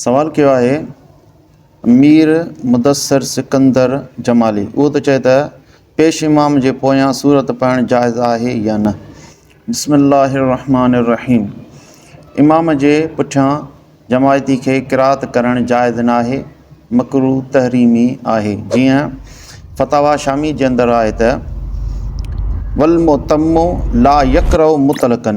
سوال ڪيو آهي مير مدثر سڪندر جمالي اهو ته چئي ته پيش امام جي پويان سورت پڙهڻ جائز آهي يا نه بسم الله الرحمٰن الرحيم امام جي پٺيان جماعتي کي قرات ڪرڻ جائز ناهي مڪرو تحريمي آهي جيئن فتاويٰ شامي جي اندر آهي ته والمؤتم لا يقرئ مطلقًا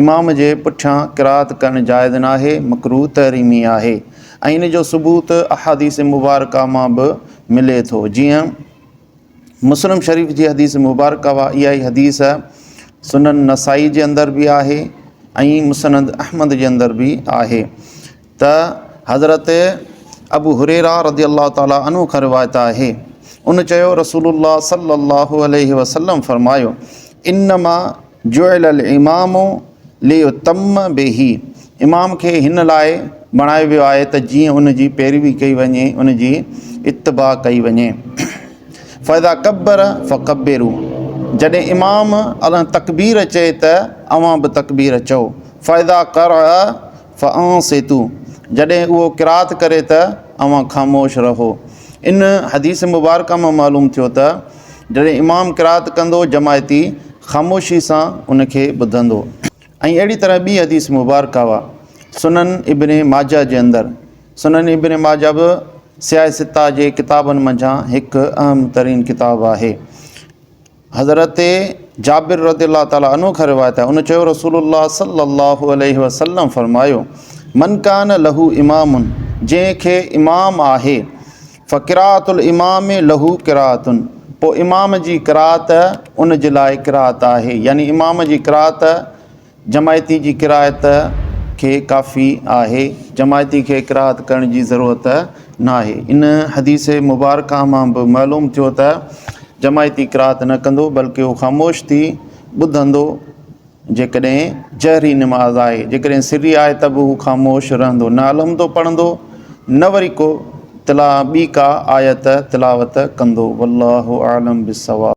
امام جي پٺيان قرائت ڪرڻ جائز ناهي، مڪروه تحريمي آهي ۽ ان جو ثبوت احاديث مبارڪه مان به ملي ٿو جيئن مسلم شريف جي حديث مبارڪه وا اها ئي حديث سنن نسائي جي اندر به آهي ۽ مسند احمد جي اندر به آهي. ته حضرت ابو هريره رضي الله تعالٰي عنه کان روايت آهي ان چيو رسول الله صلي الله عليه وسلم فرمايو انما جعل الامام ليتم به امام کي هن لاء بڻايو ويو آهي ته جيئن ان جي پيروي ڪئي وڃي ان جي اتباع ڪئي وڃي فاذا ڪبر فڪبرو جڏهن امام الله تڪبير چئي ته اوهان به تڪبير چئو فاذا قرع فانصتوا جڏهن اهو قرات ڪري ته اوهان خاموش رهو. ان حديث مبارڪه مان معلوم ٿيو ته جڏهن امام قرات ڪندو جماعتي خاموشي سان ان کي ٻڌندو. ۽ اهڙي طرح ٻي حديث مبارڪه اها سنن ابن ماجه جي اندر، سنن ابن ماجه به سياهي سته جي ڪتابن منجهان هڪ اهم ترين ڪتاب آهي. حضرت جابر رضي الله تعالٰي عنه کان روايت آهي ان چيو رسول الله صلي الله عليه وسلم فرمايو من ڪان له امام جنهن کي امام آهي فقراءت الامام له قراءت پوء امام جي قراءت ان جي لاء قراءت آهي يعني امام جي قراءت جماعتي جي ڪراهت کي ڪافي آهي، جماعتي کي ڪراهت ڪرڻ جي ضرورت ناهي. ان حديث مبارڪه مان به معلوم ٿيو ته جماعتي ڪراهت نه ڪندو بلڪه هو خاموش ٿي ٻڌندو جيڪڏهن جهري نماز آهي، جيڪڏهن سري آهي ته به هو خاموش رهندو نه الحمدو پڙهندو نه وري ڪو تلا ٻي ڪا آيت تلاوت ڪندو. والله اعلم بالصواب.